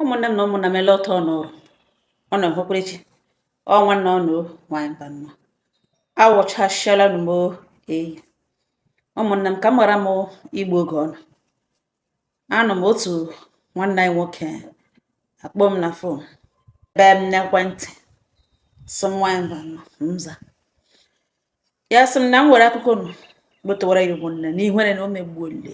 ụmụnne m na ụmụnna m ele otu unu rị unu ahụkwara chi ọ nwanne unu nwanyị Mbano awụchasịala m eyi ụmụnne m ka m ghara m igbu oge unu anọ m otu nwanne anyị nwoke akpọ m na fon bee m n'ekwentị sị m nwanyị Mbano m aza ya sị m na m were akụkọ nụ gbotowara ya ụmụnne na ihere na o megbuole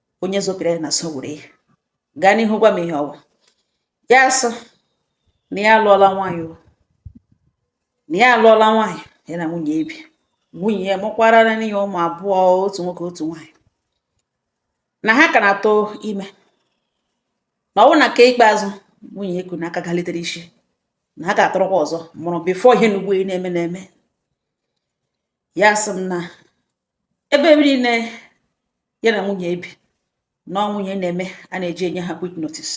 onye zopịara ya na so were ya gaa n'ihu gwa m ihe ọwụ ya asị na ya alụọla nwaanyị o na ya alụọla nwaanyị ya na nwunye ebi nwunye ya mụkwara na ya ụmụ abụọ otu nwoke otu nwaanyị na ha ka na-atụ ime na ọwụ na nke ikpeazụ nwunye eku n'aka galitere isi na ha ga-atụrụkwa ọzọ mụrụ before ihe n'ugbo na-eme na-eme ya sị m na ebe niile ya na nwunye ebi na ọ nwunye na-eme a na-eji enye ha quick notice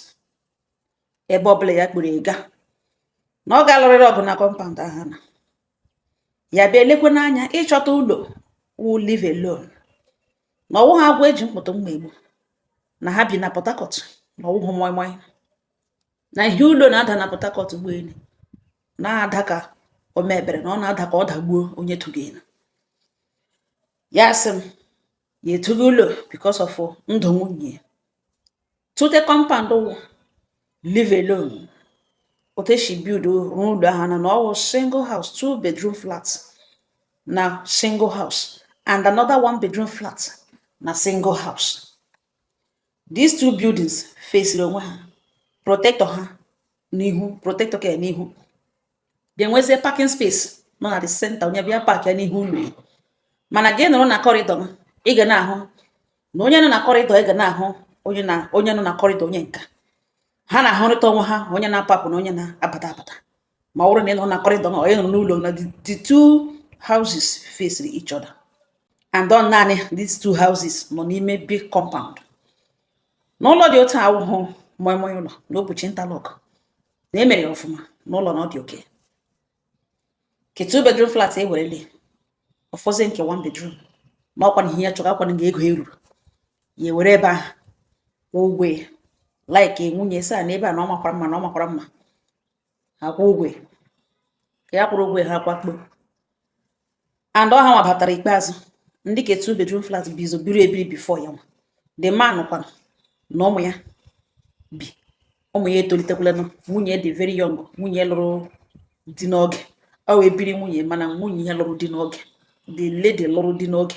ebe ọbụla ya kpọrọ ya gaa na ọ ga-alụrịrị ọgụ na kọmpaụnd ahụ na ya bịa elekwanụ anya ịchọta ụlọ wụ live alone na ọwụhụ agwọ eji mkpụtụ mma egbu na ha bi na Port Harcourt na ọwụhụ moi moi na ihe ụlọ na-ada na Port Harcourt ugbua na-ada ka o mebere na ọ na-ada ka ọ dagbuo onye tụrụ elu ya sị m ya etughị ụlọ because of ndụ nwunye tụte kọmpaụnd wụ live alone otu esi build rụọ ụlọ ahụ na na ọwụ single house two bedroom flat na single house and another one bedroom flat na single house these two buildings faciri onwe ha protector ha n'ihu protector ka n'ihu ga-enwezie parking space nọ na the center onye bịa park ya n'ihu ụlọ ya mana gị nọrọ na kọrịdọ ị ga na-ahụ na onye nọ na kọrịdọ ị ga na-ahụ onye na onye nọ na kọrịdọ onye nka ha na-ahụrịta onwe ha onye na-apụ apụ na onye na-abata abata ma ọ bụrụ na ị nọ na kọrịdọ ma onye nọ n'ụlọ na the two houses face each other and ọ naanị these two houses nọ n'ime big compound n'ụlọ dị otu awụhụ moi moi ụlọ n'obuchi interlock na e mere ya ọfụma n'ụlọ na ọ dị okay nke two bedroom flat e werele ọ fọzie nke one bedroom na ọkwa na ihe ya chọrọ ọkwa nga ego eruru ya ewere ebe ahụ kwụọ ụgwọ ya like nwunye sị ya na ebe a na ọ makwara mma na ọ makwara mma ha akwụọ ụgwọ ka ya kwụrụ ụgwọ ha akwakpo and ọ hanwa batara ikpeazụ ndị ke two bedroom flat bu ụzọ biri ebiri before ya nwa the man kwanụ na ụmụ ya bi ụmụ ya etolitekwalanụ nwunye dị very young nwunye lụrụ di n'oge ọ wụ ebiri nwunye mana nwunye ya lụrụ di n'oge the lady lụrụ di n'oge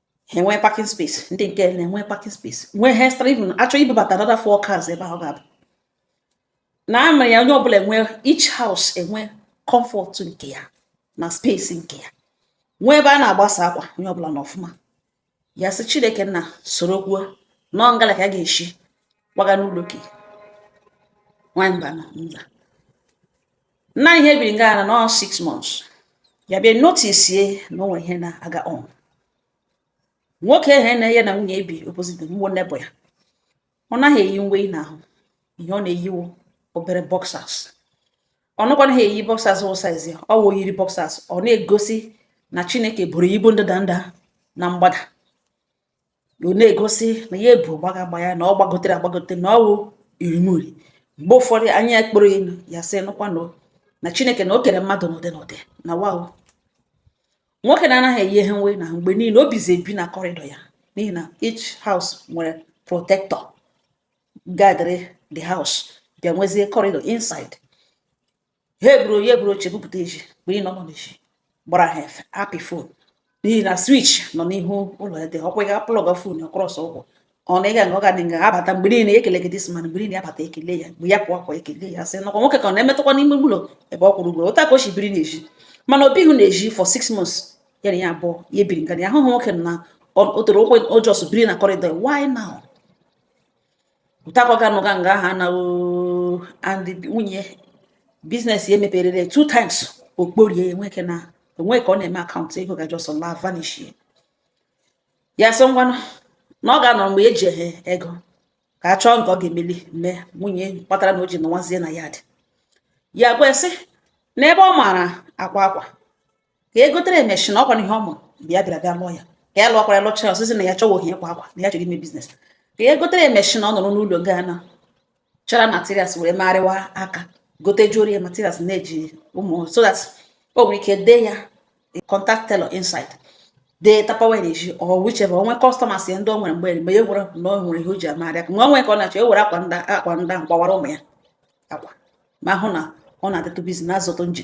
ha enwee parking space ndị nke na-enwe parking space nwee ha extra even a chọọ ibubata another four cars ebe ahụ ga-abụ na amara ya onye ọbụla enwe each house enwe comfort nke ya na space nke ya nwee ebe a na-agbasa akwa onye ọbụla na ọfụma ya sị chineke nna soro kwuo na ngala ka a ga-eshi kwaga n'ụlọ ke nwanyị mba na nza na ihe biri nga na nọ six months ya bịa notice na o nwe ihe na-aga on nwoke ahụ na ya na nwunye ya bi opposite mgbo neighbour ya ọ naghị eyi uwe na ahụ ihe ọ na-eyi wụ obere boxers ọ nakwanaghị eyi boxers wụ size ya ọ wụ yiri boxers ọ na-egosi na chineke buru ibu ndịda ndịda na mgbada ọ na-egosi na ya ebu gbaga agba ya na ọ gbagotere agbagote na ọ wụ irimuri mgbe ụfọdụ anya ya kpọrọ elu ya sị nụkwa na na chineke na o kere mmadụ n'ụdị n'ụdị na wa o nwoke na-anaghị eyi ihe nwe na mgbe niile o bizi ebi na corridor ya n'ihi na each house nwere protector guarding the house bịa nwezie corridor inside ya eburu ya eburu oche bupụta ezi bụ ịnọ nọ n'ezi gbara ha efe apị phone n'ihi na switch nọ n'ihu ụlọ ya dị ọkwa ya plug phone ọ cross ụkwụ ọ na ịga na ọ gadị nga abata mgbe niile ekele gị this man mgbe niile abata ekele ya mgbe ya pụọ akwa ekele ya sị nakwa nwoke ka ọ na-emetụkwa n'ime ụlọ ebe ọ kwụrụ ụgwọ otu a ka o si biri n'ezi mana o bihu n'ezi for six months ya na ya abụọ ya ebiri nga ya ahụhụ nwoke na o tere ụkwụ o just biri na corridor why now otu a ka ọ ga-anọga nga ahụ na and nwunye business ya e meperere two times o kporie enweke na o nwe ka ọ na-eme account ego ga just la vanish ya sị ngwanụ na ọ ga-anọ mgbe e ji ehe ego ka a chọọ nke ọ ga-emeli mee ọ wụ ihe kpatara na o ji nọwazie na yard ya gwa sị na ebe ọ maara akwa akwa ka e gotere ya machine ọ kwa ihe ọ ma mgbe ya bịara bịa lụọ ya ka ya lụọkwara ya lụchara ọ sị sị na ya achọwaghị ịkwa akwa na ya chọrọ ime business ka e gotere ya machine ọ nọrọ n'ụlọ ga na chara materials were marịwa aka gotejuoro ya materials na-eji amụ so that o nwere ike dee ya contact tailor inside dee tapawa n'ezi or whichever o nwee customers ya ndị o nwere mgbe mgbe ya gwara na o nwere ihe o ji amarị aka ma o nwere ka ọ na-achọ e were akwa ndị akwa ndị ahụ gbawara ụmụ ya akwa ma hụ na ọ na-adịtụ busy na-azụtụ nji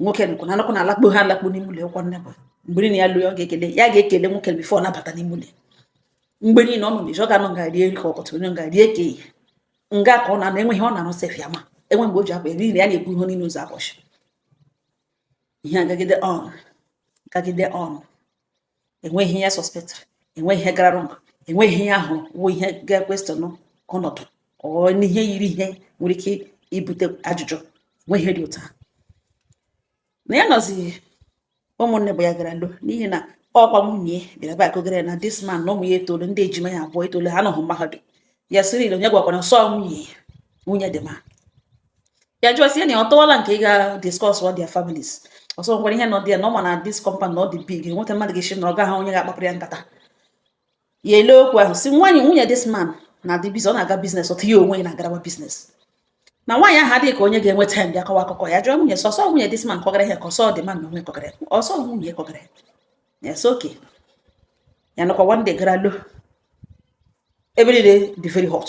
nwoke nọkwa na nọkwa na alakpu ha alakpu n'ime ụlọ nwoke neighbour mgbe niile ya lọọ ọ ga-ekele ya ga-ekele nwoke before ọ na-abata n'ime ụlọ ya. mgbe niile ọ nọ n'ezi ọ ga-anọ nga rie nri ke ụtụtụ ọ nọ nga rie ke ehihie nga ka ọ na-anọ enweghị ọ na-anọ sef ya ma enwe mgbe o ji akwa ya niile ya na-ebu ihe niile ụzọ ụbọchị ihe agagide on gagide on enweghị ihe ya suspectịrị enweghị ihe gara wrong enweghị ihe ahụ wụ ihe ga-equestion ọnọdụ ọ n'ihe yiri ihe nwere ike ibute ajụjụ enweghị ihe dị otu a na ya nọzi ụmụnne bụ ya gara lo n'ihi na ọkwa nwunye bịara bịa kọgara na this man na ụmụ ya etolu ndị ejima ya abụọ etolu ha nọhụ mahadum ya sị really onye gwakwara sị ọ nwunye nwunye the man ya jụọ sị ya na ọ tọwala nke ị ga discuss all their families ọ sị o nwere ihe nọ dị ya na ọ ma na this compound na ọ dị big enweta mmadụ ga-esi na ọ gaghị onye ga-akpapụrụ ya nkata ya ele okwu ahụ si nwaanyị nwunye this man na-adị busy ọ na-aga business otu ya onwe ya na-agarawa business na nwaanyị ahụ adịghị ka onye ga-enwe time bịa kọwa akụkọ ya jụọ nwunye sị sị ọ nwunye this man kọgara ya ka ọ sị ọ the man na onwe kọgara ọ sị ọ nwunye kọgara ya sị okay ya nọkwa one day gara lo ebe niile dị very hot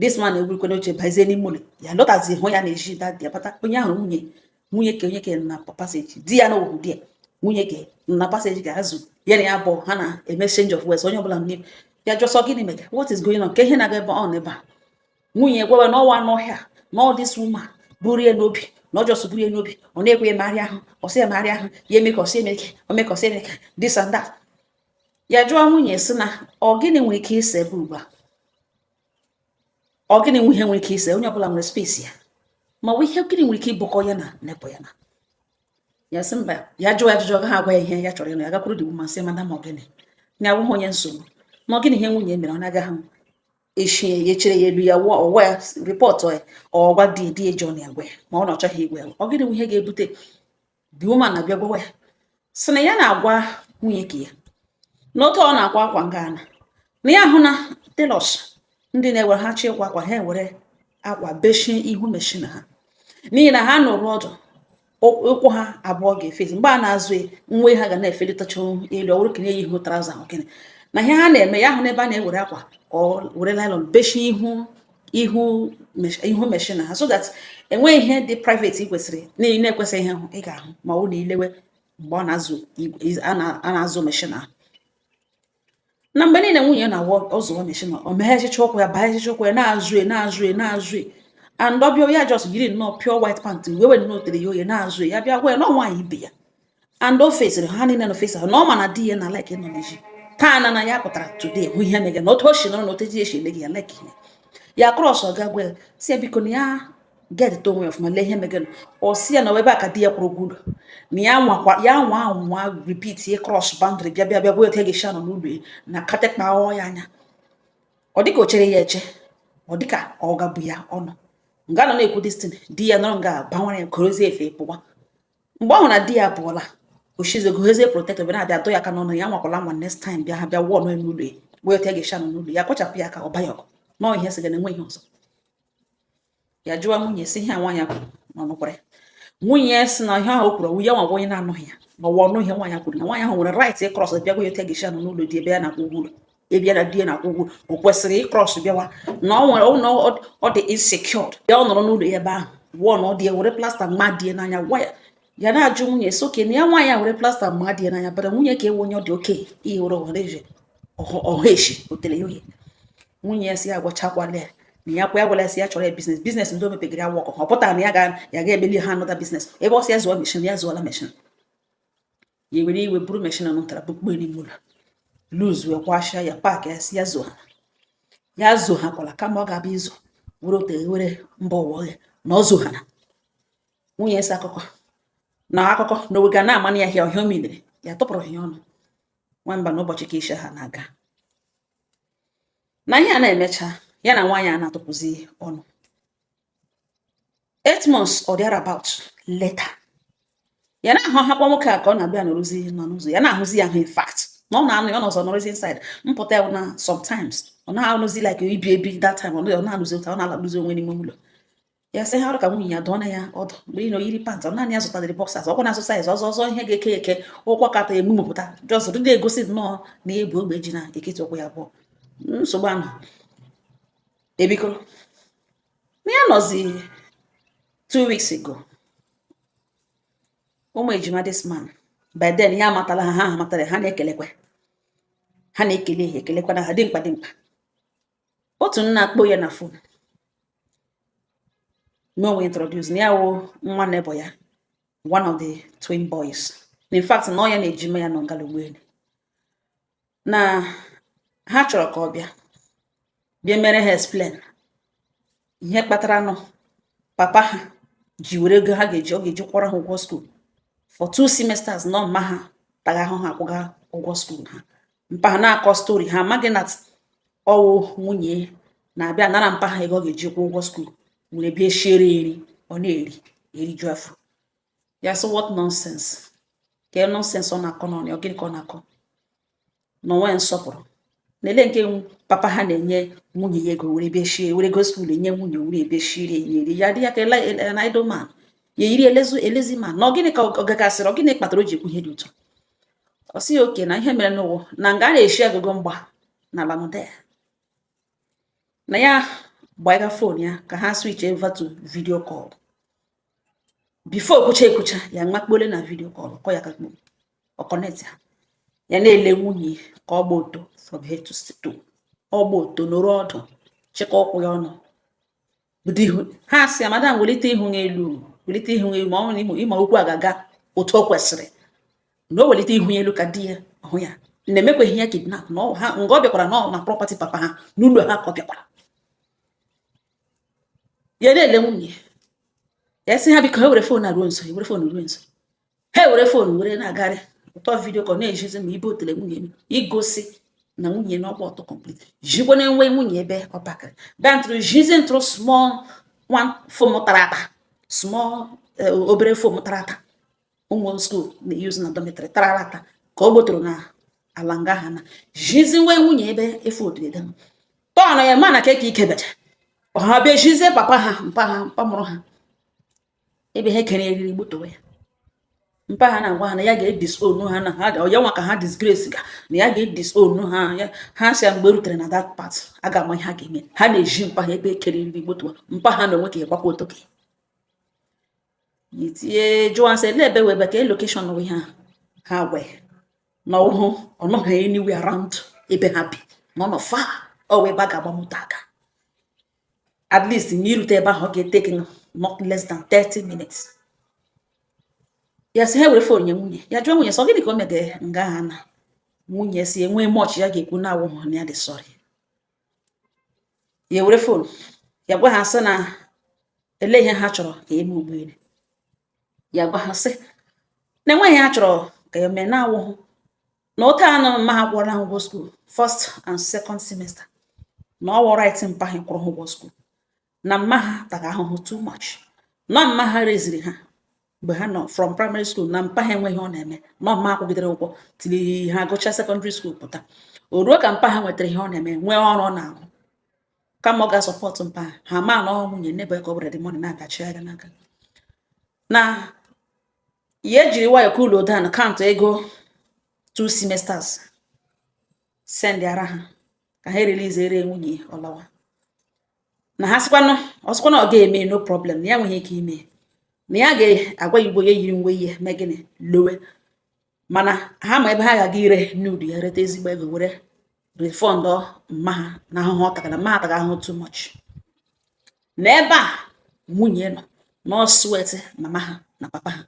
this man egwurikwe n'oche bazie n'ime ụlọ ya lọtazi hụ ya na-eji dadi ya bata onye ahụ nwunye nwunye ke onye ke na passage di ya na owu di ya nwunye ke na passage ga-azụ ya na ya bụ ha na-eme change of words onye ọbụla n'ime ya jụọ sị ọ gịnị mega what is going on ka ihe na-aga ebe ọ n'ebe a nwunye gwawe na ọwa n'ọhịa na ọ this woman buru ya n'obi na ọ just buru ya n'obi ọ naghị ekwe ya megharịa ahụ ọ sị ya megharịa ahụ ya eme ka ọ sị eme ka o mee ka ọ sị eme ka this and that ya jụọ nwunye sị na ọ gịnị nwere ike ise ebe ugbu a ọ gịnị nwe ihe nwere ike ise onye ọbụla nwere space ya ma ọ bụ ihe gịnị nwere ike ibukọ ya na neighbour ya na ya sị mba ya jụọ ya ajụjụ ha agwa ya ihe ya chọrọ ịnụ ya gakwuru the woman sị madam ma ọ gịnị ya awụghị onye nsogbu ma ọ gịnị ihe nwunye mere ọ na-agaghị m echi ya echere ya elu ya wụọ ọwa ya report ya ọ gwa dị di eji ọnụ ya gwa ya ma ọ na ọ chọghị ịgwa ya ọ gịnị nwe ihe ga-ebute the woman abịa gwawa ya sị na ya na-agwa nwunye ka ya na otu ọ na-akwa akwa nga a na na ya hụ na tailors ndị na-ewere ha chọọ ịkwa akwa ha ewere akwa bechie ihu machine ha n'ihi na ha nọrọ ọdụ ụkwụ ha abụọ ga-efezi mgbe ha na-azọ uwe ha ga na-efelitacha elu ọ wụrụ nke na-eyighị trouser ahụ kene na ihe ha na-eme ya ahụ n'ebe a na-ewere akwa ka ọ were nylon bechie ihu ihu ihu machine ha so that enweghị ihe dị private ị kwesịrị na-ekwesịghị ịhụ ị ga-ahụ ma ọ na ị lewe mgbe ọ na-azọ a na-azọ machine ahụ na mgbe niile nwunye na-awụ ọ zọwa machine o meghechicha ụkwụ ya baghechicha ụkwụ ya na-azọ e, na-azọ e, na-azọ e. and ọ bịa ya just yiri nnọọ pure white pant wee were nnọọ tere ya oghe na-azọ ya bịa gwa ya na nwaanyị ibe ya and o fesịrị ha niile na ọ face ha na ọ ma na di ya na-alike ịnọ n'ezi taa na na ya pụtara today hụ ihe mege na otu o si nọrọ na otu ezi esi ele gị ya like ihe ya cross ọ ga gwa ya sị ya biko na ya gedịta onwe ya ọfụma lee ihe mega na ọ sị ya na ebe a ka di ya kwụrụ ụgwọ ụlọ na ya nwakwa ya nwa anwa repeat ye cross boundary bịa bịa bịa gwa otu ya ga-esi anọ n'ụlọ ya na ga-etikpọ ya anya ọ dịka o chere ya eche ọ dịka ọ gabu ya ọnụ nga nọ na-ekwu this thing di ya nọrọ nga banwere ya korozie efe pụwa mgbe ọ hụrụ na di ya pụọla oshize gohezie protector bịa na-abịa adụ ya aka n'ọnụ ya anwakwala anwa next time bịa ha bịa wụọ ọnụ ya n'ụlọ ya wee otu ya ga-eshi anọ n'ụlọ ya kpachapụ ya ka ọ banye ọgụ nọọ ihe sịga na enwe ihe ọzọ ya jụwa nwunye sị ihe a nwaanyị kwuru na ọ nụkwara ya nwunye ya sị na ihe ahụ o kwuru ọ wụ ya nwa bụ onye na-anụghị ya ma ọ wụ ọ nụ ihe nwaanyị kwuru na nwaanyị ahụ nwere right ịcross bịa gwa ya otu ya ga-eshi anọ n'ụlọ di ebe ya na-akwụ ụgwọ ụlọ ebe ya na di ya na-akwụ ụgwọ o kwesịrị ịcross bịawa na ọ wụrụ na ọ dị insecured ya ọ nọrọ n'ụlọ ya ebe ahụ wụọ na ọ di ya were plaster ma di ya n'anya gwa ya ya na-ajụ nwunye so okay na ya nwaanyị a were plaster ma di ya n'anya bara nwunye ka ewe onye ọ dị oke ihe were ọhanaeze ọha echi o tere ya ohe nwunye ya sị ya agwachakwala ya na ya kwa ya gwala ya sị ya chọọrọ ya business business ndị o mepegara ya wọkọ ọ pụtara na ya ga ya ga-emeli ha another business ebe ọ sị ya zụọ machine ya zụọla machine ya were iwe buru machine na nụtara bukpo n'ime ụlọ loose wee kwashịa ya pack ya sị ya zo ha ya zo ha kwala kama ọ ga-abịa izu were ote were mba ụwa ọhịa na ọ zo ha na nwunye si akụkọ na akụkọ na oge na amanị ya hịa ọhịa omidere ya tụpụrụ ya ọnụ nwamba na ụbọchị ka ishi ha na-aga na ihe a na-emecha ya na nwaanyị a na-atụpụzi ọnụ eight months or thereabout later ya anaha ahụkwa nwoke a ka ọ na-abịa nọrọzi nọ n'ụzọ ya na-ahụzi ya ahụ in fact na ọ na-anụ ya ọ nọzi nọrọzi inside mpụta ya na sometimes ọ na-anọzi like ibi ibi that time ọ na-anụzi ụta ọ na-alakpụzi onwe n'ime ụlọ ya sị ha ọrụ ka nwunye ya dụọ na ya ọdụ mgbe ị na o yiri pant ọ naanị ya zụtadịrị boxers ọ kwa na-asụ size ọzọ ọzọ ihe ga-eke eke ụkwụ kata emumụpụta just dị na-egosi nnọọ na o bu ogbe ji n'etiti ụkwụ ya abụọ nsogbu ahụ ebikọrọ na ya nọzi two weeks ago ụmụ ejima this man by then ya amatala ha ha amatala ha na-ekelekwa ha na-ekele ha ekelekwa na ha dimkpa dimkpa otu na-akpọ ya na phone mee onwe introduce na ya wụ nwa neighbour ya one of the twin boys in fact na ọ ya na ejima ya nọ ngala ụgbọelu na ha chọrọ ka ọ bịa bịa mere ha explain ihe kpatara na papa ha ji were ego ha ga-eji ọ ga-eji kwụọrọ ha ụgwọ school for two semesters na ọ mma ha taga ahụhụ akwụga ụgwọ school ha mpa ha na-akọ story ha amaghị na ọ wụ nwunye na-abịa anara mpa ha ego ọ ga-eji kwụọ ụgwọ school were bịa shiere eri ọ na-eri eriju afọ ya sị what nonsense ka nonsense ọ na-akọ n'ọnụ ọ gịnị ka ọ na-akọ na o nwe nsọpụrụ na-ele nke papa ha na-enye nwunye ya ego were bịa shie were ego school enye nwunye were bịa shiere eri ya dị ya ka na idle man ya yiri a lazy a lazy man na ọ gịnị ka ọ gagasịrị ọ gịnị kpatara o ji ekwu ihe dị otu a ọ sị okay na ihe mere n'ụwa na nga a na-eshi agụgụ mgba na lamụda ya na ya gbaiga phone ya ka ha switch over to video call before kwucha ekwucha ya makpole na video call kọ ya kakpo ọ connect ya ya na-ele nwunye ka ọ gba ọtọ from head to toe ọ gba ọtọ nọrọ ọdụ chịkọ ụkwụ ya ọnụ bido ihu ha sị ya madam welite ihu ya elu welite ihu ya elu ma ọ bụrụ ma okwu a ga-aga otu o kwesịrị na o welite ihu ya elu ka di ya hụ ya na e mekwaghị ya kidnap na ha nga ọ bịakwara na ọ na property papa ha n'ụlọ ha ka ọ bịakwara ya na-ele nwunye ya sị ha biko ha were fon ruo nso were fon ruo nso ha were fon were na-agarị ụtọ video ka ọ na-ezizi ma ebe otele nwunye igosi na nwunye na ọ gba ọtọ complete jikwa na enwe nwunye ebe ọ pakịrị dantụrụ zizi ntụrụ small one foam tara ata small eh, obere foam tara ata ụmụ skuul na-euse na dormitory tara ata ka ọ gbotoro na ala nga ha na-ezizi nwa nwunye ebe efu otu ede tọn ya ma na keke ike becha ha bịa zizie papa ha mpa ha mpa mụrụ ha ebe ha kere eriri gbutowe ya mpa ha na-agwa ha na ya ga-edisown ha na ha ga ya nwa ka ha disgrace ga na ya ga-edisown ha ha sị ya mgbe e rutere na that part a ga-ama ihe ha ga-eme ha na-eji mpa ha ebe e kere eriri gbutowe mpa ha na onwe ka ya gbakwa otoke ya tie jụọ ha sị ele ebe wụ ebe ka location wụ ha gwa ya na ọ nọghị anywhere around ebe ha bi na ọ nọ far away ebe a ga-agba moto aga at least n'irute ebe ahụ ọ ga-etake not less than 30 minutes ya sị ha were fon nye nwunye ya jụọ nwunye sị ọ gịnị ka o mega nga ha na nwunye sị enweghị much ya ga-ekwu na-awụghị ya dị sorry ya were fon ya gwa ha sị na ele ihe ha chọrọ ka e mee ugbu a ya gwa ha sị na enweghị ihe ha chọrọ ka ya mee na-awụhụ na oke anọ mma ha kwụọla ha ụgwọ skuul first and second semester na ọ wụ right mpa ha kwụrụ ha ụgwọ skuul na mma ha taga ahụhụ too much na ọ mma ha reziri ha mgbe ha nọ from primary school na mpa ha enweghị ihe ọ na-eme na ọ mma ha kwụgidere ụgwọ till ha gụchaa secondary school pụta o ruo ka mpa ha nwetara ihe ọ na-eme nwee ọrụ ọ na-arụ kama ọ ga-asupportụ mpa ha mana ọ wụ nwunye n'ebe a ka all the money na-abịachi ya n'aka na ya ejiri nwayọ cool down count ego two semesters sendịara ha ka ha ereleaseere nwunye ọ lawa na ha sịkwanụ ọ sịkwanụ ọ ga-eme no problem na ya nweghị ike ime na ya ga-agwa ya ugbo ya yiri uwe ya mee gịnị lawa mana ha ma ebe ha ga-aga ire nude ya reta ezigbo ego were refund mma ha na ahụhụ ọ tagara mma ha taga ahụhụ too much na ebe a nwunye nọ na ọ sweat mama ha na papa ha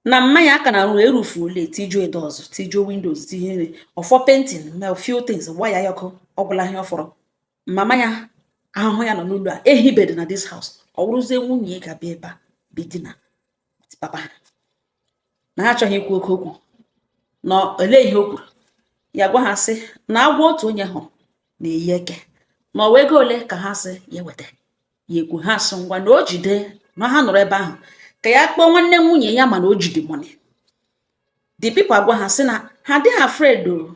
na mma ha ka na-arụ e roofuole tijuo doors tijuo windows tinyere ọ fọ painting ma few things wire ya ọkụ ọ gwụla ihe ọ fọrọ mama ya ahụhụ ya nọ n'ụlọ a ehibedị na this house ọ wụrụzie nwunye ga-abịa ebe a bidina papa ha na ha achọghị ikwu oke okwu na olee ihe o kwuru ya gwa ha sị na agwọ otu onye hụrụ na-eyi eke na ọ wụ ego ole ka ha sị ya weta ya ekwu ha sị ngwa na o jide na ha nọrọ ebe ahụ ka ya kpọọ nwanne nwunye ya mana o jide money the people agwa ha sị na ha adịghị afraid o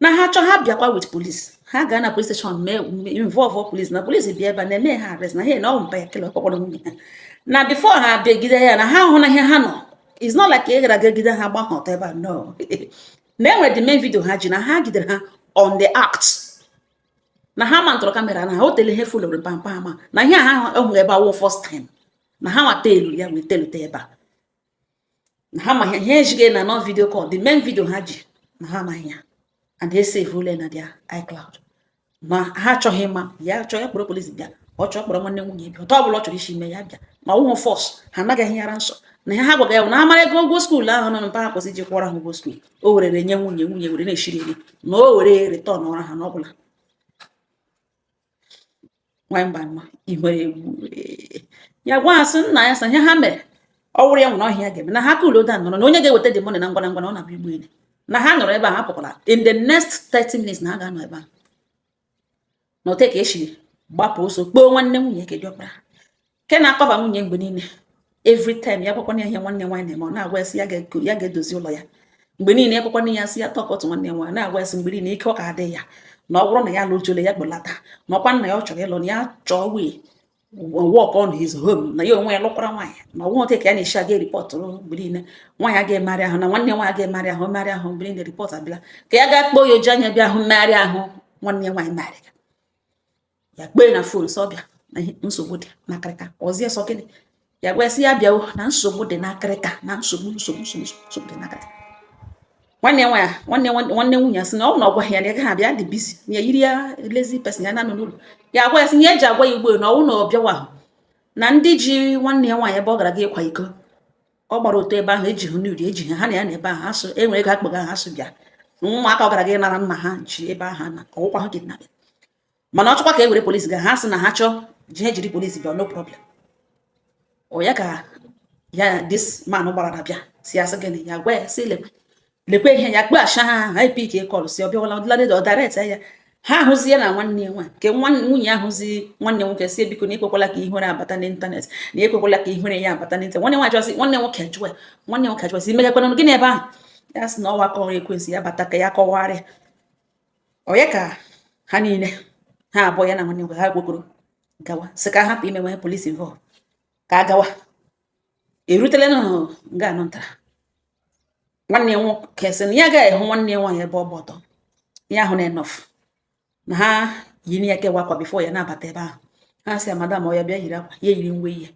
na ha chọọ ha bịakwa with police ha gaa na police station mee involve police na police bịa ebe a na-eme ha arrest na ha na ọ mpa ya kele ọkpọkpọrọ nwunye ha na before ha abịa gide ya na ha hụ na ihe ha nọ it's not like ị gara ga gide ha gba ha ọtọ ebe a no na e nwere the main video ha ji na ha gidere ha on the act na ha mountụrụ camera na ha o tele ihe fulere pampa ama na ihe ha hụ ebe a wụ first time na ha nwata elu ya wee telute ebe a na ha ma ihe ejighị na nọ video call the main video ha ji na ha amaghị ya and they save ule na their iCloud na ha achọghị ịma ya chọọ ya kpọrọ police bịa ọ chọọ kpọrọ nwanne nwunye bịa otu ọbụla ọ chọrọ isi mee ya bịa ma ọ wụghụ force ha anaghị ehighara nsọ na ha gwaga ya bụ na amara ego ụgwọ school ahụ nọ mpa ha kwesị iji kwụọrọ ha ụgwọ school o werere nye nwunye nwunye were na-eshiri eri na o were returnọra ha n'ọbụla nwanyị mba mma ihere egwu ya gwa ha sị nna ya sa ihe ha mere ọ wụrụ ya nwere ọhịa ga-eme na ha coolọ down nọrọ na onye ga-eweta the money na ngwa na ngwa na ọ na-abịa ụgbọelu na ha nọrọ ebe a ha apụkwala in the next 30 minutes na ha ga-anọ ebe a na otu ka esi gbapụ ọsọ kpọọ nwanne nwunye ke diọkpara nke na-acover nwunye mgbe niile every time ya gwakwana ya ihe nwanne nwaanyị na-eme ọ na-agwa ya sị ya ga-edozi ụlọ ya mgbe niile ekwekwana ya sị ya talk to nwanne nwa na-agwa ya sị mgbe niile ike ọ ka adị ya na ọ bụrụ na ya lụjole ya kpọlata na ọkwa na ya ọ chọrọ ịlụ na ya chọọ wee work on his home na ya onwe ya lụkwara nwaanyị na ọ wụ ote ka ya na-eshi aga reportụrụ mgbe niile nwaanyị aga emarị ahụ na nwanne nwaanyị aga emarị ahụ marị ahụ mgbe niile report abịala ka ya gaa kpọọ ya o ji anya bịa hụ mmegharị ahụ nwanne ya nwaanyị marị ya kpee na phone sị ọ bịa na nsogbu dị n'akịrịka ọzie sọ gịnị ya gwa sị ya bịawa na nsogbu dị n'akịrịka na nsogbu nsogbu nsogbu dị n'akịrịka nwanne nwa ya nwanne nwanne nwunye ya sị na ọ na ọ gwa ya na gaghị abịa dị busy ya yiri ya lazy person ya na-anọ n'ụlọ ya gwa ya sị ya eji agwa ya ugbo na ọ wụ na ọ bịawa ahụ na ndị ji nwanne ya nwaanyị ebe ọ gara ga ịkwa iko ọ gbara ọtọ ebe ahụ eji hụ n'uri eji ha na ya na ebe ahụ asụ enwe ego akpọga ha asụ bịa ụmụaka ọ gara ga nara nna ha ji ebe ahụ na ọ wụkwa ha gị na mana ọ chọkwa ka e were police ga ha sị na ha chọọ ji ha jiri police bịa no problem ọ ya ka ya this man gbara na bịa si asị gịnị ya gwa ya si lekwe lekwe ihe ya kpeghachi ha ahụ anyị pick call si ọ bịawala ọdịladịda ọdaret ya ha ahụzi ya na nwanne ya nwa nke nwunye ya ayọzi nwanne nwoke si biko na ekwekwala ka ihere abata n'ịntanetị na ekwekwala ka ihere ya abata n'ịntanetị nwanne nwa ayọzi nwanne nwoke ajụwa nwanne nwoke ajụwa si megakwana gịnị ebe ahụ ya sị na ọ wụkwa ọrụ ekwensu ya bata ka ya kọwarịa onye ka ha niile ha abụọ ya na nwanne nwoke ha gwokoro gawa sị ka hapụ imewe police involve ka a gawa erutela na nga anọ ntara nwanne ya nwoke sị na ya agaghị ahụ nwanne ya nwaanyị ebe ọ gba ọtọ ya ahụ na enough na ha yi na ya kewa akwa before ya na-abata ebe ahụ ha sị ya madam oya bịa yiri akwa ya yiri uwe ihe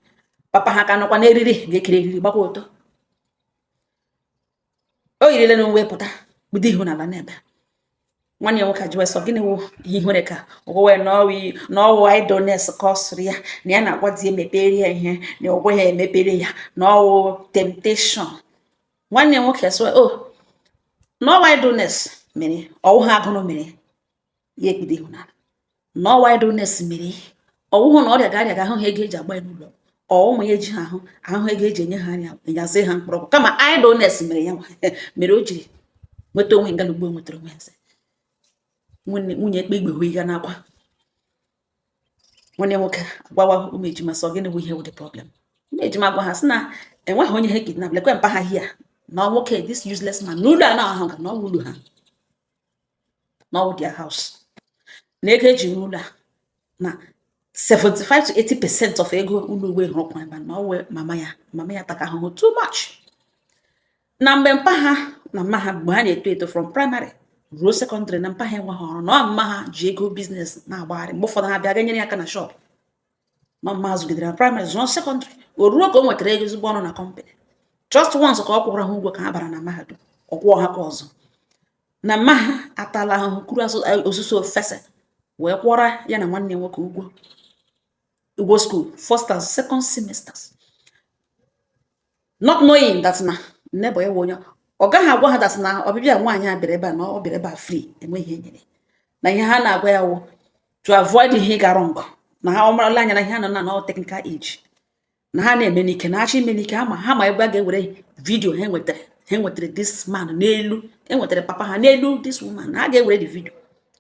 papa ha ka nọkwa n'eriri nga e kere eriri gbakwa ọtọ o yirile na uwe pụta kpudo ihu n'ala n'ebe nwanne ya nwoke ajụwa sị ọ gịnị wụ ihe ihere ka ogowe na ọwụ idleness ka ọ sịrị ya na ya na-agwa di emepere ya ihe na ọ gwaghị emepere ya na ọwụ temptation nwanne ya nwoke sịwa o oh, na ọwụ idleness mere ọwụhụ agụrụ mere ya ekpudo ihu n'ala na ọwụ idleness mere ọwụhụ na ọrịa ga-arịa ga ahụ ha ego eji agba ya n'ụlọ ọwụmụ ya eji ha ahụ ahụ ego eji enye ha anya enyazie ha mkpọrọgwụ kama idleness mere ya mere o jiri nweta onwe nga ugbo nwetara onwe ya nwunye ekpe igbe hụi ya n'akwa nwanne nwoke agwawa ụmụ ejima sị ọ gịnị bụ ihe wụ the problem ụmụ ejima gwa ha sị na enweghị onye ha kidnap lekwe mpa ha here na nwoke this useless man n'ụlọ a na-ahụ ga na ọwụ ụlọ ha na ọ their house na ego eji rụọ ụlọ a na 75 to 80 percent of ego ụlọ uwe rụrụkwa ebe na ọwụ mama ya mama ya taka ahụhụ too much na mgbe mpa ha na mma ha mgbe ha na-eto eto from primary ruo secondary na mpa ha enweghị ọrụ na mma ha ji ego business na-agbagharị mgbe ụfọdụ ha bịa ga nyere ya aka na shop na mma ha zụgidere na primary zụọ secondary o ruo ka o nwetara ego ezigbo ọrụ na company just once ka ọ kwụrụ ha ụgwọ ka ha bara na mahadum ọ kwụọ ha ka ọzọ na mma ha atala ahụhụ kuru ọsụsọ fesa wee kwụọra ya na nwanne nwoke ụgwọ ụgwọ school first and second semesters not knowing that na neighbour ya onye ọ gaghị agwa ha that na ọbịbịa nwaanyị a bịara ebe a na ọ bịara ebe a free enweghị ihe e nyere na ihe ha na-agwa ya wụ to avoid ihe gara ngọ na ha amarala anya na ihe a nọ na nọ technical age na ha na-eme n'ike na achọ ime n'ike ha ma ha ma ebe a ga-ewere video ha nwetara ha nwetara this man n'elu enwetara papa ha n'elu this woman na ha ga-ewere the video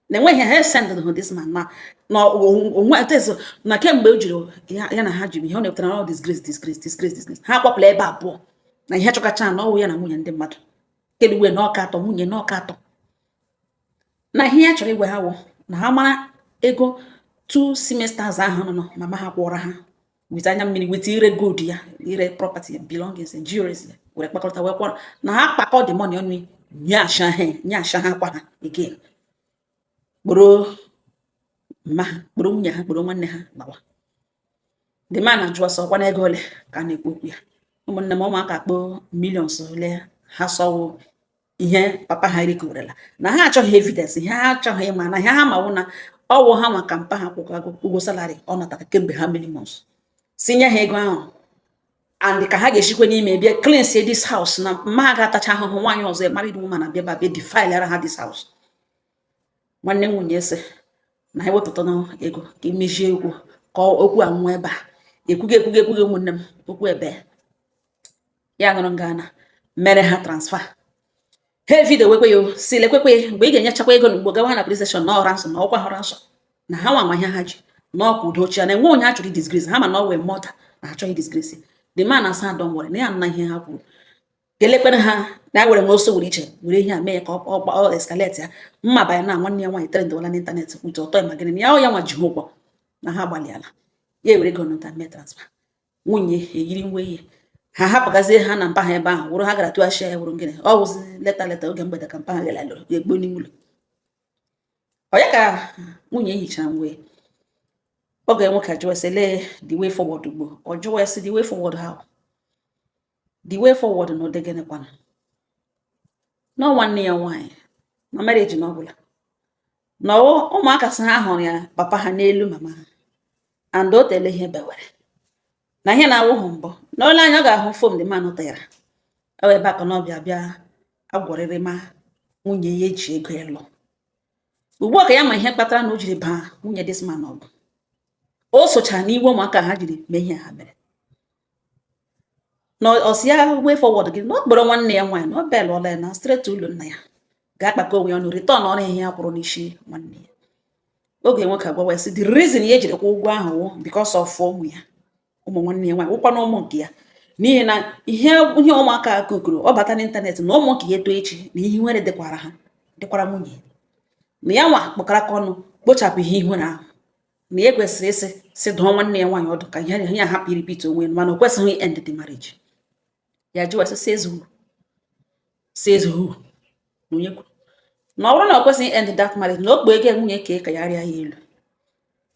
na enweghị ha esendịrị ha this man na na onwe atezụ na kemgbe o jiri ya na ha jiri ihe ọ na-ewetara na disgrace disgrace disgrace disgrace ha kpọpụla ebe abụọ na ihe chọkacha na ọwụ ya na nwunye ndị mmadụ kedu wee na ọka atọ nwunye na ọka atọ na ihe ya chọrọ ịgwa ha wụ na ha mara ego two semesters ahụ na mama ha kwụọrọ ha with anya mmiri with ire gold ya ire property belongings and jewelries ya were kpakọrịta wee kwụọrọ na ha kpakọ the money ọnụ nye asha ha nye asha ha kwa ha again kpọrọ mma ha kpọrọ nwunye ha kpọrọ nwanne ha gbawa the man ajụọ sị ọ kwanụ ego ole ka a na-ekwu okwu ya ụmụnne m ụmụaka kpọọ millions ole ha sọwo ihe papa ha rikọrela na ha achọghị evidence ihe ha achọghị ịma na ihe ha ma wụ na ọ wụ ha maka mpa ha kwụkwago ụgwọ salary ọ natara kemgbe how many months sị nye ha ego ahụ and ka ha ga-eshikwe n'ime bịa cleanse this house na mma ha ga-atacha ahụhụ nwaanyị ọzọ ya married woman abịa ba bịa defilera ha this house nwanne m nwunye asị na ha wepụta ego ka e mechie okwu ka okwu a nwụọ ebe a ekwughị ekwughị ekwughị ụmụnne m okwu ebe ya nụrụ nga na mere ha transfer ha evideo wekwe ya sị lekwekwe mgbe ị ga-enyechakwa ego na ugbo gawa na police station na ọ ransom na ọ kwụrụ ransom na ha nwa ihe ha ji na ọkwa udo ochie na enwe onye a chọrọ disgrace ha ma na ọ wee mọta na achọghị disgrace the man asị don't worry na ya nna ihe ha kwuru ga-elekpere ha na were nwe oso were iche were ihe a mee ya ka ọ escalate ya mma banye na nwanne ya nwaanyị trendwala n'ịntanetị kwute ọtọ ya ma gịnị na ya ọ ya nwa ji ha ụgwọ na ha gbalịala ya ewere ego nụta mee transfer nwunye eyiri uwe ya ha hapụgazie ha na mpa ha ebe ahụ wụrụ ha gara tụghachi ya wụrụ gịnị ọ wụzi later later oge mgbede ka mpa ha gara lụrụ ya egbuo n'ime ụlọ ọ ya ka nwunye yichara uwe ya ọgọ ya nwoke ajụọ sị lee the way forward ugbo ọ jụwa ya sị the way forward how the way forward na ụdị gịnịkwanụ na nwanne ya nwaanyị na marriage na ọ gwụla na ụmụaka sị ha hụrụ ya papa ha n'elu mama ha and o teela ihe bewere na ihe na-awụghị mbụ na olee anya ọ ga-ahụ fom dị mmanụ tara ewe ebe aka na ọ bịa bịa agwọrịrị ma nwunye ya eji ego ịlụ ugbu a ka ya ma ihe kpatara na o jiri baa nwunye this man ọgụ o sochara n'iwe ụmụaka ha jiri mee ihe ha mere na ọ sị ya way forward gịnị na ọ kpọrọ nwanne ya nwaanyị na ọ bel ọla ya na straight ụlọ nna ya ga-akpakọ onwe ya ọnụ return ọrụ ihe ya kwụrụ n'isi nwanne ya ọgọ ya nwoke agwawa ya sị the reason ya jiri kwụọ ụgwọ ahụ wụ because of ụmụ ya ụmụ nwanne ya nwaanyị wụkwa na ụmụ nke ya n'ihi na ihe ihe ụmụaka a kukuru ọ bata n'ịntanetị na ụmụ nke ya eto echi na ihe nwere dịkwara ha dịkwara nwunye na ya nwa kpọkọrọ aka ọnụ kpochapụ ihe ihere ahụ na e kwesịrị ịsị sị dụọ nwanne ya nwaanyị ọdụ ka ihe a hapụ irepeat onwe mana o kwesịghị end the marriage ya jụwa sị says who says who na onye kwuru na ọ bụrụ na o kwesịghị end that marriage na o kpee ego nwunye ka ka ya rịa ya elu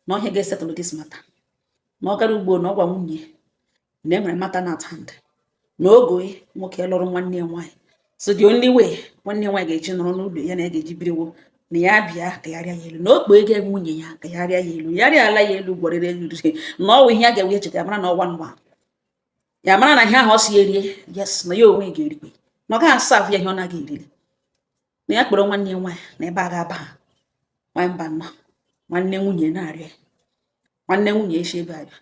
na ọ ihe a ga-esettle this matter na ọ gara ugbo na ọ gwa nwunye na enwere matter na at hand na ọgọ ya nwoke lụrụ nwanne ya nwaanyị so the only way nwanne ya nwaanyị ga-eji nọrọ n'ụlọ ya na ya ga-eji biriwo na ya bịa ka ya rịa ya elu na okpu ego nwunye ya ka ya rịa ya elu ya rịala ya elu gwarịrị elu na ọ wụ ihe a ga-ewe echeta ya mara na ọwa nwa ya mara na ihe ahụ ọ si erie yes na ya onwe ga-erikwe na ọ gaghị asa afụ ya ihe ọ naghị eriri na ya kpọrọ nwanne ya nwaanyị na ebe a ga-aba ha nwaanyị mba nọ nwanne nwunye na-arịọ nwanne nwunye echi ebe abịa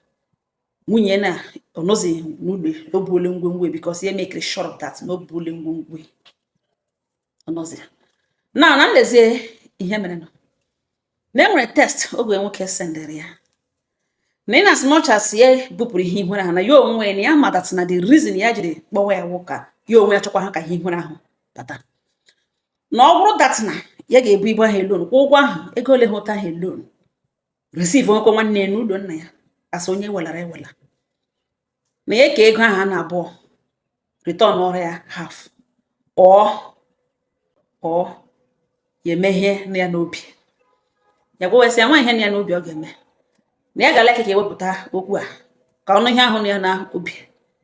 nwunye na ọ nọzi n'ụlọ o buole ngwongwo because ya mekiri sure that na o buole ngwongwo ọ nọzi na na nlezie ihe merenụ na enwere text ọgọ nwoke sendere ya na in as much as ya bupụrụ ihe ihere ahụ na ya onwe na ya ma that na the reason ya jiri kpọwa ya nwoke ya onwe ya chọkwa ha ka ihe ihere ahụ bata na ọ bụrụ that na ya ga-ebu ibu ahụ alone kwụọ ụgwọ ahụ ego ole ha ụta ahụ alone receivekwa nwanne ya n'ụlọ nna ya as onye welara ewela na ya ka ego ahụ a na abụọ returnọrọ ya half or or ya eme ihe nọ ya n'obi ya gwawesị ya nwa ihe nọ ya n'obi ọ ga-eme na ya ga-alike ka e wepụta okwu a ka ọ nụ ihe ahụ nọ ya n'obi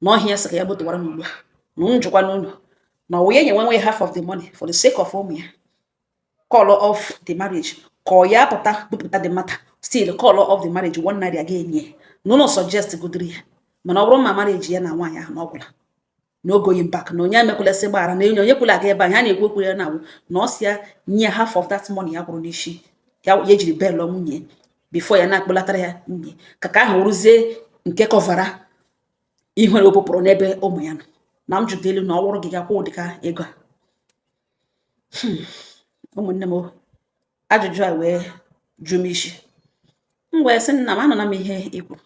na ọhịa ya sị ka ya gbotụwara m ugbu a na m jụkwa unu na ọ wụ ya nye nwenwe half of the money for the sake of ụmụ ya call off the marriage ka ọ ya pụta bupụta the matter still call off the marriage one naira ga enye ya na unu suggestgodiri ya mana ọ bụrụ ma marriage ya na nwaanyị ahụ na ọ gwụla no going back na onye emekwulesị gbaghara na enye onye kwula aga ebe anyị a na-ekwu okwu ya na ọ wụ na ọ sị ya nye half of that money ya kwụrụ n'isi ya ya jiri bịa lụọ nwunye before ya na-akpọlatara ya nwunye ka ka ahụ rụzie nke kọvara ihere o bupụrụ n'ebe ụmụ ya nọ na m jụta unu na ọ wụrụ gị ga-akwụ ụdị ka ego a hmm. ụmụnne m ajụjụ a wee jụ m isi m wee sị nna m anụla m ihe i kwuru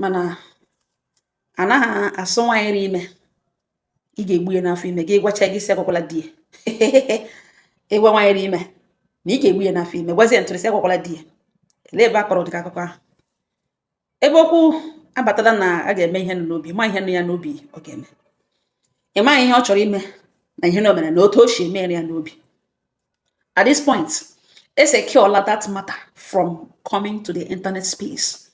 mana a naghị asị nwaanyị ri ime ị ga-egbu ya n'afọ ime gị gwacha gị sị agwakwala di ya ị gwa nwaanyị ri ime na ị ga-egbu ya n'afọ ime gwazie ntụrụ sị agwakwala di ya lee ebe a kọrọ ụdịka akụkọ ahụ ebe okwu abatala na a ga-eme ihe nọ n'obi ma ihe nọ ya n'obi ọ ga-eme ị maghị ihe ọ chọrọ ime na ihe na o mere na otu o si meruo ya n'obi At this point, e secureọla that matter from coming to the internet space.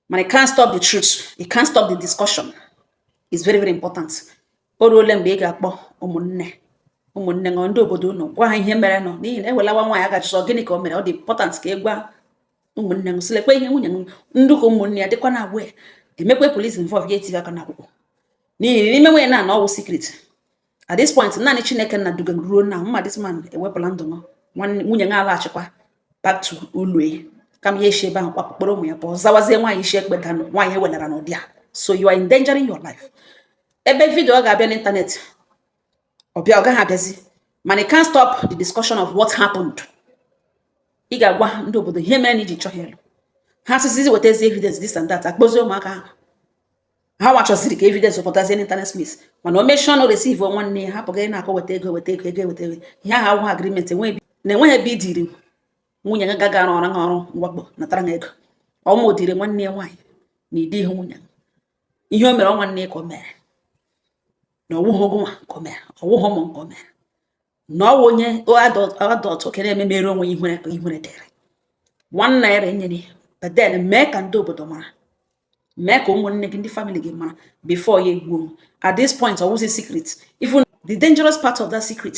Mana it can't stop the truth. It can't stop the discussion. It's very, very important. O ruole mgbe ị ga-akpọ ụmụnne ụmụnne unu ndị obodo unu gwa ha ihe merenụ n'ihi na ewelawa nwaanyị a ga-ajụ sị ọ gịnị ka o mere ọ dị important ka ị gwa ụmụnne m sị lekwa ihe nwunye m ndụ ka ụmụnne ya dịkwa na agwa emekwe police involve ya etinye aka n'akwụkwọ n'ihi na i mewe ya na ọ wụ secret at this point naanị chineke nna duga m ruo na mma this man ewepụla ndụ m nwanne- nwunye m alaghachikwa back to ụlọ kama ya esi ebe ahụ kwapụ kpọrọ ụmụ ya pụọ zawazie nwaanyị isi ekpe danụ nwaanyị ewelara n'ụdị a so you are endangering your life ebe video ọ ga-abịa n'ịntanetị ọ bịa ọ gaghị abịazi mana you can't stop the discussion of what happened ị ga-agwa ha ndị obodo ihe mere na i ji chọghị ịlụ ha sịzizi wetazi evidence this and that akpọzie ụmụaka ahụ ha nwa chọziri ka evidence pụtazie na internet space mana o mechie ọnụ receive nwanne ya hapụ gị na-akọ weta ego weta ego ego weta ego ihe ahụ awụghị agreement enweghị na enweghị ebe idiri nwunye gị gaga arụ ọrụ ha ọrụ mwakpo natara ha ego ọ nwa o diri nwanne ya nwaanyị na ịdị ihe nwunye ihe o mere ọ nwanne ya ka o mere na ọwụghị ọgọ nwa ka o mere ọwụghị ụmụ nke o mere na ọwụ onye adọtụ oke na-eme mere onwe ihere dịrị nwanne ya renyere but then mee ka ndị obodo mara mee ka ụmụnne gị ndị family gị mara before ya egbuo at this point ọ wụzi secret even the dangerous part of that secret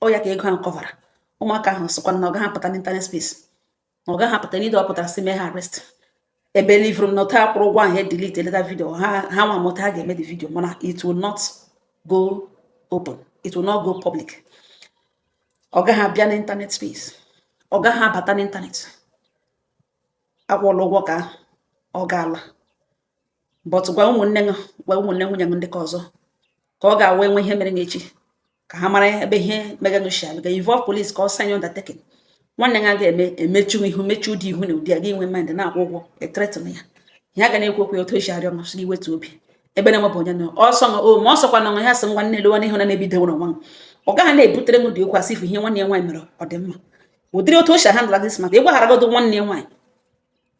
ọ ya ka ego ahụ kọvara ụmụaka ahụ sịkwa na ọ gaghị apụta n'internet space na ọ gaghị apụta n'ido ọ pụtara si mee ha arrest ebelieveru m na ọta akwụrụ ụgwọ ahụ delete eleta video ha ha nwa mụta ha ga-eme the video mana it will not go open it will not go public ọ gaghị abịa n'internet space ọ gaghị abata n'internet akwụọla ụgwọ ka ọ ga-ala but gwa ụmụnne gị gwa ụmụnne nwunye gị ndị ka ọzọ ka ọ ga-awụ e nwee ihe mere n'echi ka ha mara ebe ihe mega gị shal ga involve police ka ọ sign undertaking nwanne gị ga-eme emechu ihu mechu ụdị ihu na ụdị a gị nwe mind na-akwụ ụgwọ ethreaten ya ihe a ga na-ekwu okwu ya otu esi arịọ masị gị wetu obi ebe na enwebụ onye na ọsọ na o ma ọsọkwa na ya sị nwa nne lewa n'ihu na na-ebido nwere nwa ọ gaghị na-ebutere ụdị okwu asị ifu ihe nwanne ya nwaanyị mere ọ dị mma ụdịrị otu o si handle this matter ịgwagharagodo nwanne ya nwaanyị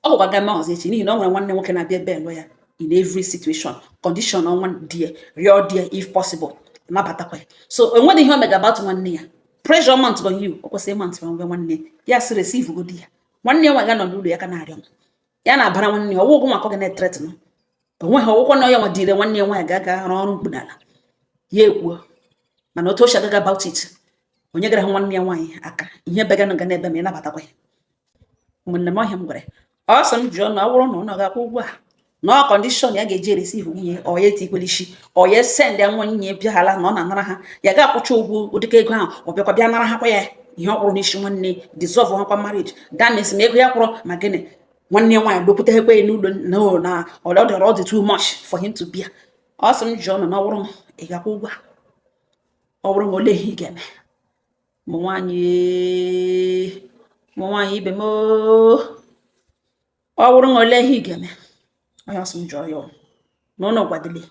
ọ gakwa ga mee ọzọ echi n'ihi na ọ nwere nwanne nwoke na-abịa ebail ya in every situation condition ọ nwa di ya rịọ di ya if possible nabatakwa ya so enweghị ihe o mega about nwanne ya pressure mount on you o kwesịrị mount on nwanne ya si receive godi ya nwanne ya nwaanyị ga nọ n'ụlọ ya ka na-arịọ ya na-abara nwanne ya ọ wụ ụgwọ maka ọ ga na-ethreaten o nweghị ọ wụkwa na ya nwa dịire nwanne ya nwaanyị ga-aga rụọ ọrụ mkpunala ya ekwuo mana otu o si agaga about it onye gara hụ nwanne ya nwaanyị aka ihe beganụ ga n'ebe ma ị nabatakwa ya ụmụnne m ọ ihe a m gwara ọ sị m jụọ unu ọ bụrụ na unu ga-akwụ ụgwọ a na ọ condition ya ga-eji ereceive nwunye ọ ya etikwela isi ọ ya send ya nwunye ya bịaghara na ọ na-anara ha ya ga-akwụcha ụgwọ ụdịka ego ahụ ọ bịakwa bịa nara ha kwa ya ihe ọ kwụrụ n'isi nwanne dissolve ha kwa marriage that means na ego ya kwụrụ ma gịnị nwanne ya nwaanyị dokwutekwa ya n'ụlọ na ọ na ọ dọrọ ọ dị too much for him to bịa ọ sị m jụọ unu na ọ bụrụ m ị ga-akwụ ụgwọ a ọ bụrụ m olee ihe ị ga-eme ụmụ nwaanyị ụmụ nwaanyị ibe m oo. ọ wụrụ na olee ihe ị ga-eme ọ ihe ọ sị m jụọ ya unu na unu gwadili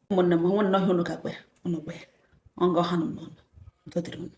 ụmụnne m nwe nnọọ ihe unu ga-agwa ya unu gwa ya ọ nga ọha nọ n'ọnụ udo dịrị unu